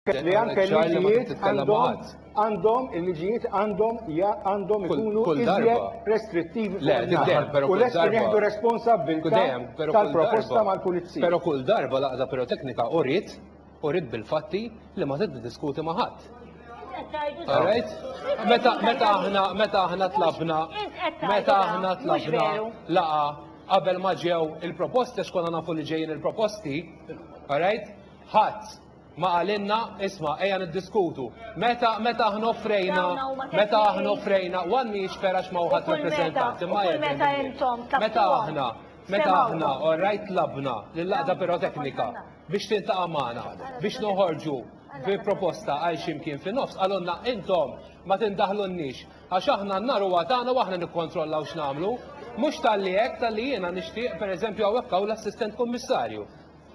li anke l-liġijiet għandhom il-liġijiet għandhom għandhom ikunu iżjed restrittivi u lest nieħdu responsabbiltà tal-proposta mal-pulizija. Però kull darba l-għaqda piroteknika uriet uriet bil-fatti li ma tiddiskuti ma' ħadd. Meta aħna meta aħna tlabna meta aħna tlabna laqa qabel ma ġew il-proposti x'konna nafu li ġejjin il-proposti, all right? Ħadd Ma qalilna, isma', ejja niddiskutu. Meta, meta aħna offrejna, meta aħna offrejna, one mi jiċfer għax ma hu ħadd rappreżentant, imma jekk. Meta intom Meta aħna, meta aħna, all right, tlabna lill-Għaqda Piroteknika biex tiltaqa' magħna biex noħorġu bi proposta għal xi mkien fin-nofs, qalulna intom ma tindaħlulniex għax aħna n-nar huwa tagħna u aħna nikkontrollaw x'nagħmlu. Mhux talli hekk, talli jiena nixtieq, pereżempju hawnhekk hawn l-Assistent Kummissarju.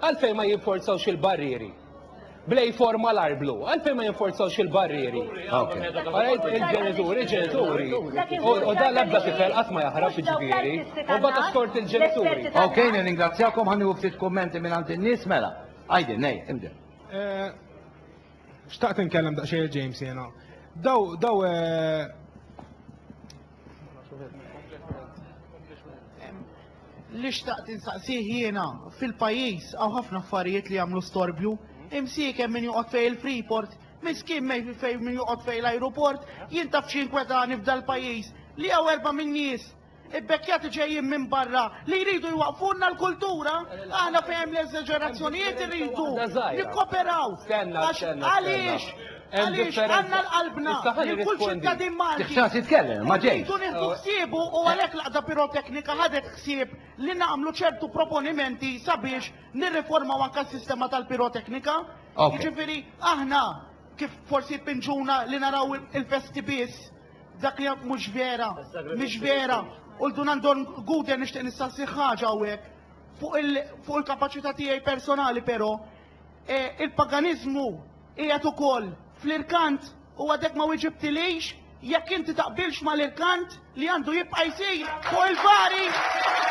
Għalfejn ma jinforzawx il-barrieri? Blej for malar blu, għalfejn ma jinforzawx il-barrieri? Għarajt il-ġenituri, ġenituri, u dan l-ebda tifel qatt ma jaħrab ġifieri, u bata skort il-ġenituri. Ok, nirringrazzjakom ħanni u ftit kummenti minn għand in-nies mela. Għajdi, nej, imdi. Eh, xtaqt nkellem daqsxejn James jena. Daw, daw eh, Li xtaqt insaqsih jiena fil-pajjiż għaw ħafna affarijiet li jagħmlu storbju. Imsiekem min joqgħod fej il-Freeport, miskin mej fej min joqgħod fej l-ajruport, jien taf xi kwetani f'dal-pajjiż li għaw erba' minn nies ibbekkjati ġejjin minn barra li jridu jwaqfunna l-kultura, aħna fejn l-eżaġerazzjonijiet irridu nikkoperaw. Għaliex? Għaliex għandna l-qalbna lil kull ċittadin Malti li rridu nieħdu ħsiebu u għalhekk l-Għaqda Piroteknika ħadet ħsieb li nagħmlu ċertu proponimenti sabiex nirriformaw anke s-sistema tal-piroteknika. Jiġifieri aħna kif forsi jpinġuna li naraw il-festi biss dak li mhux vera, mhix vera. U l-Dunan Don Guden nixtieq nistaqsi ħaġa hawnhekk fuq il-kapaċità tiegħi personali però eh, il-paganiżmu Qiegħed ukoll fl-irkant u għadek ma wiġibtilix jekk inti taqbilx mal-irkant li għandu jibqa' jsir fuq il-bari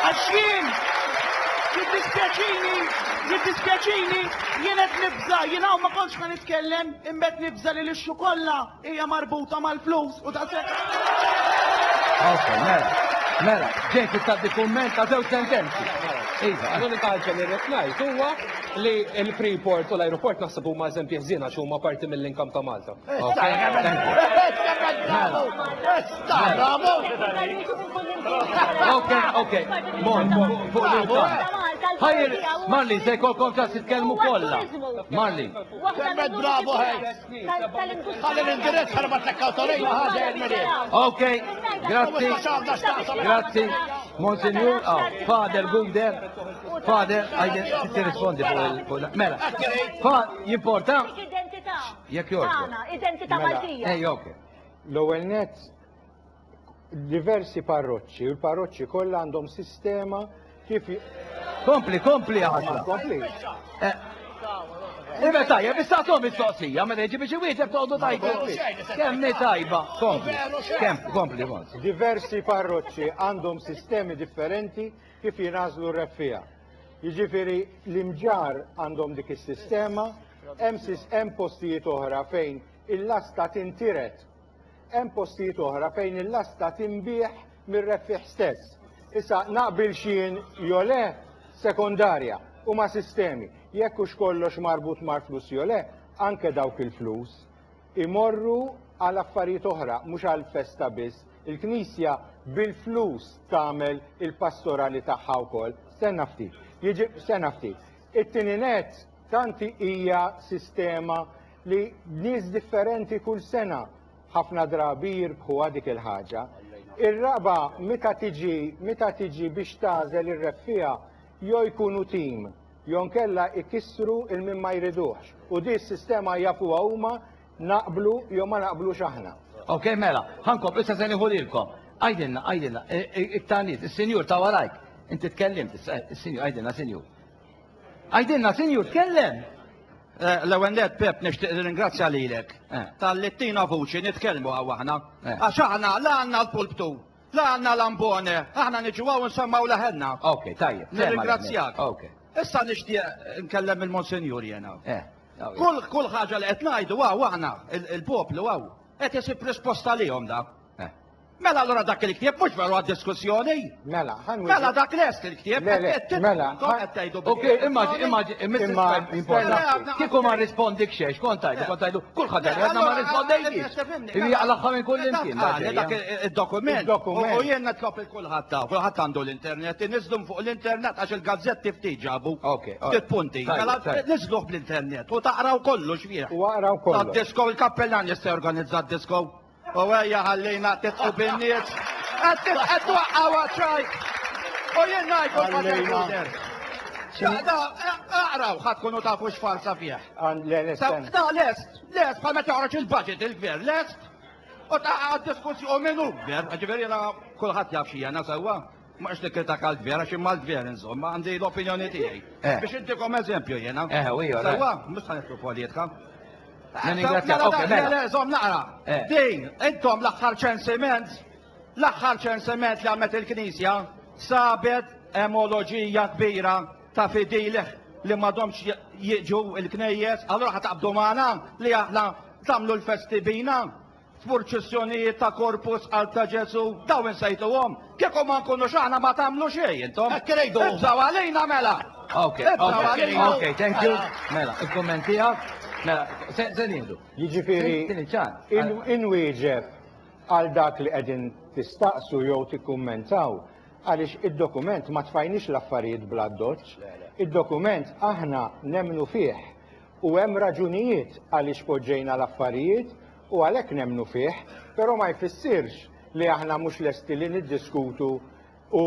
għax jien jiddispjaċini jiddispjaċini jien qed nibża' jien hawn ma kontx ħa nitkellem imma qed nibża' li lixxu kollha Hija marbuta mal-flus u ta' se. Ok, mela, mela, ġejt tistaddi kumment ta' żewġ sentenzi. Iva. L-unika ħaġa li rrid ngħid huwa li l-Freeport u l-ajruport naħseb huma eżempji ħżiena għax huma parti mill-inkam ta' Malta. Ok, ok, mor, fuq l-inkam. Ħajr, Marlin, se jkollkom ċans titkellmu kollha. Marlin. Waħda Semmet bravo, Heinz. Ok, grazzi, grazzi, Monsignor, oh, Father Guder, Father, għajden ti rispondi fuq il Mela, fa, jimporta? Jek jorġu. Identita Maltija. Ej, ok. L-ewel net, diversi parroċċi, u l-parroċċi kollha għandhom sistema kif. Kompli, kompli għasla. Kompli. Eh, Ibe tajja, bissa tom il-soqsija, ma reġi biex iwieġeb toqdu tajba. Kemmi tajba, kompli, kemm, kompli, Diversi parroċċi għandhom sistemi differenti kif jinażlu r-reffija. Jiġifieri l-imġar għandhom dik is-sistema, hemm postijiet oħra fejn il-lasta tintiret Hemm postijiet oħra fejn il-lasta tinbiegħ mir-rebbħieħ stess. Issa naqbilx jien jew le sekondarja, huma sistemi. Jekk hux kollox marbut mal-flus jew le, anke dawk il-flus imorru għal affarijiet oħra mhux għal festa biss. Il-Knisja bil-flus tagħmel il-pastorali tagħha wkoll. Stenna ftit. Jiġi stenna ftit. It-tieni nett tanti hija sistema li nies differenti kull sena ħafna drabi jirbħuha dik il-ħaġa. Ir-raba meta tiġi meta tiġi biex tagħżel ir-rebħija jew jkunu tim jew nkella ikissru il min ma jriduhx u di s-sistema jafuha huma naqblu jew ma naqblux aħna. Ok, mela, ħankomplu issa se nieħu lilkom. Għajdilna, għajdilna, iktar nies, is-sinjur ta' warajk. Inti tkellimt, is-sinjur, għajdilna, sinjur. Għidilna sinjur tkellem. Eh, l-ewwel net Pep nixtieq ringrazzja lilek eh, tal-li tina vuċi nitkellmu għaw aħna. Eh. Għax aħna la għandna l-pulptu, la għandna l-ambone, aħna niġu għaw nsemmaw laħenna. Ok, tajjeb. Nirringrazzjak. Ok. Issa nixtieq nkellem il-Monsenjur jena. Kull kull ħaġa li qed ngħidu għaw aħna il-poplu għaw qed isib risposta lihom da. Mela allura dak il-ktieb mhux veru għad-diskussjoni. Mela, ħan Mela dak lest il-ktieb. Le, le, mela. Qed tgħidu Ok, immaġi, immaġi, immaġi. Kieku ma rispondik xejn, kont tajdu, kont tajdu, kulħadd għadna ma rispondejniex. Ibi jaqlaħħa minn kull imkien. Dak id-dokument. U jien nitlob il-kulħadd ta' kulħadd għandu l-internet, iniżlu fuq l-internet għax il-gazzetti ftit ġabu. Ok. Ftit punti. Mela niżluh bl-internet u taqraw kollu x'fih. U għaraw kollu. Tad-disko, il-kappellan jista' jorganizza d-disko. U ejja ħallina titqu bin-nies. Qed qed twaqqgħu għaċ-ċajt. U jien ngħid u l-Pater Xaqda, aqraw ħadd tkunu tafu x'farsa fih. Ta' lest, lest bħal meta joħroġ il-budget il-gvern, lest. U ta' diskussjoni minn Uber, ġifieri kulħadd jaf xi jena sewwa. Ma rridx nikkritika għall-Gvern għax jien mal-Gvern inżomm, ma għandi l-opinjoni tiegħi. Eh. Biex intikom eżempju jiena. Eh, u jgħor. Sewwa, mhux ta' nitlu politika. Mela, zom naqra. Eh. Din, intom l-aħħar ċensiment, l-aħħar ċensiment li għamet il-Knisja sabet emoloġija kbira ta' fidilih li madomx jiġu il-knejjes, allora ħataqbdu maħna li aħna tamlu l-festi bina, f'purċissjonijiet ta' Corpus qalb ta' Ġesu', daw insejtuhom? Kieku ma nkunux aħna ma tagħmlu xejn intom. Hekk irridu. Ibżgħu għalina mela. Ok, ok, thank you. Mela, il-kumment tiegħek. Mela, se nieħdu. Jiġifieri, inwieġeb għal dak li qegħdin tistaqsu jew tikkummentaw għaliex id-dokument ma tfajniex l-affarijiet bl-addoċċ. Id-dokument aħna nemmnu fih. U hemm raġunijiet għaliex poġġejna l-affarijiet u għalhekk nemmnu fih, però ma jfissirx li aħna mhux lesti li niddiskutu u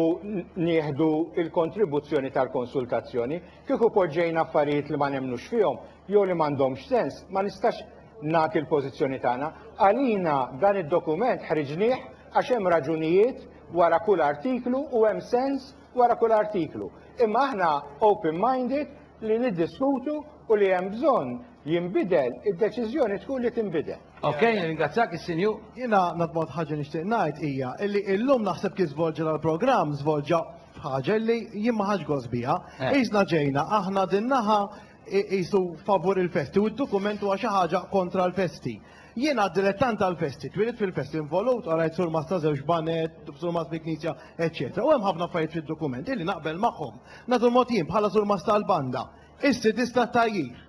nieħdu l-kontribuzzjoni tal-konsultazzjoni. Kieku poġġejna affarijiet li ma nemmnux fihom jew li m'għandhomx sens, ma nistax nagħti l-pożizzjoni tagħna. Għalina dan id-dokument ħriġnieh għax hemm raġunijiet wara kull artiklu u hemm sens wara kull artiklu. Imma aħna open-minded li niddiskutu u li hemm bżonn jinbidel, id-deċiżjoni tkun li tinbidel. Ok, nirringrazzjak is-Sinju. Jiena l-mod ħaġa nixtieq ngħid hija li illum naħseb kif żvolġa dal-programm żvolġa f'ħaġa li jien ma ħadx gost biha. Eh. Qisna ġejna aħna din naħa qisu favur il-festi u d-dokument huwa xi ħaġa kontra l-festi. Jien għad dilettant tal-festi, twielidt fil-festi, involut, qrajt surmat ta' żewġ baned, surmat fil-knisja, eċċetera. U hemm ħafna affarijiet fid-dokument illi naqbel magħhom. Nagħtu mod jien bħala surmat tal-banda. Is-sidis tat-tajjir.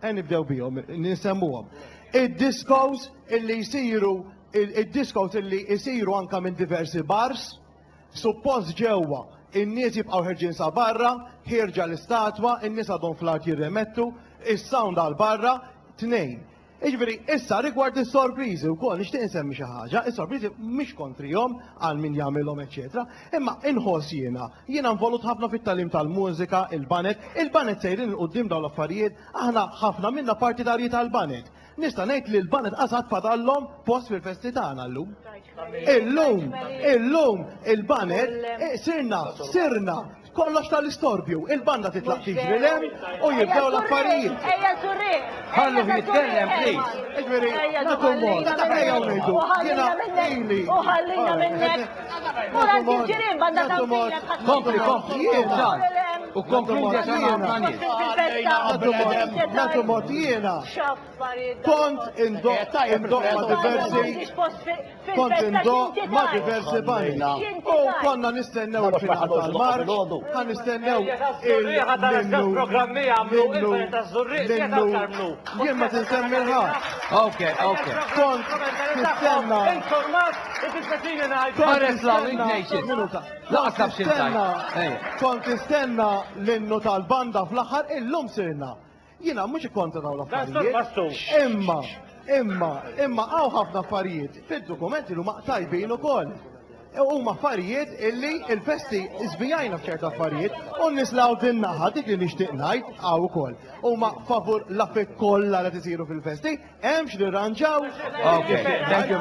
Ejn nibdew bihom, nisemmuhom. Id-diskos illi jsiru id-diskos illi jsiru anke minn diversi bars, suppost ġewwa, in-nies jibqgħu ħerġin sa barra, ħierġa l-istatwa, in-nies għadhom fl-art jirremettu, is-sound għal barra, tnejn. Jiġifieri, issa rigward is-sorpriżi wkoll nixtieq insemmi xi ħaġa, is-sorpriżi mhix kontrihom għal min jagħmilhom eċċetera, imma inħoss jiena, jiena involut ħafna fit-tagħlim tal-mużika, il-baned, il-baned sejrin 'il quddiem dawn l-affarijiet, aħna ħafna minna partitarji tal-baned. Nista' ngħid li l-baned qas għad fadallhom post fil-festi tagħna llum. Illum, illum il-baned sirna, sirna, Kollox ta' l-istorbju, il-banda titlaq tiġri 'l hemm u jibdew l-affarijiet. Ejja Zurrigħ! Ħalluh jitkellem please! Jiġifieri, nagħtu mod, ejjew ngħidu, jiena ili. U ħallina minnek! Mela inti l-ġirien banda tagħmilek ħadd. Kompli, kompli, jien ġar. U konkludi għax għandna ħafna nies. Nagħtu mod jiena. X'affarijiet dawn! Kont indoqq, indoqq ma' diversi. kont indoq ma' diversi banna u konna nistennew il-finale tal-marċ, ta' nistennew il-minnu, minnu, jien ma tinsemmi l-ħadd. Ok, ok. Kont nistenna. Informat, it-istazzini ngħid. Peress la ignation. Laqsab xi kont nistenna l-innu tal-banda fl-aħħar illum sirna. Jiena mhux ikkontra dawn l-affarijiet. Imma, imma, imma hawn ħafna affarijiet fid-dokumenti li huma tajbin ukoll. E huma affarijiet illi il-festi żvijajna f'ċerta affarijiet u n-nies li hawn din naħa dik li nixtieq ngħid hawn ukoll. Huma favur l-affarijiet kollha li qed isiru fil-festi, hemm x'nirranġaw. Thank you very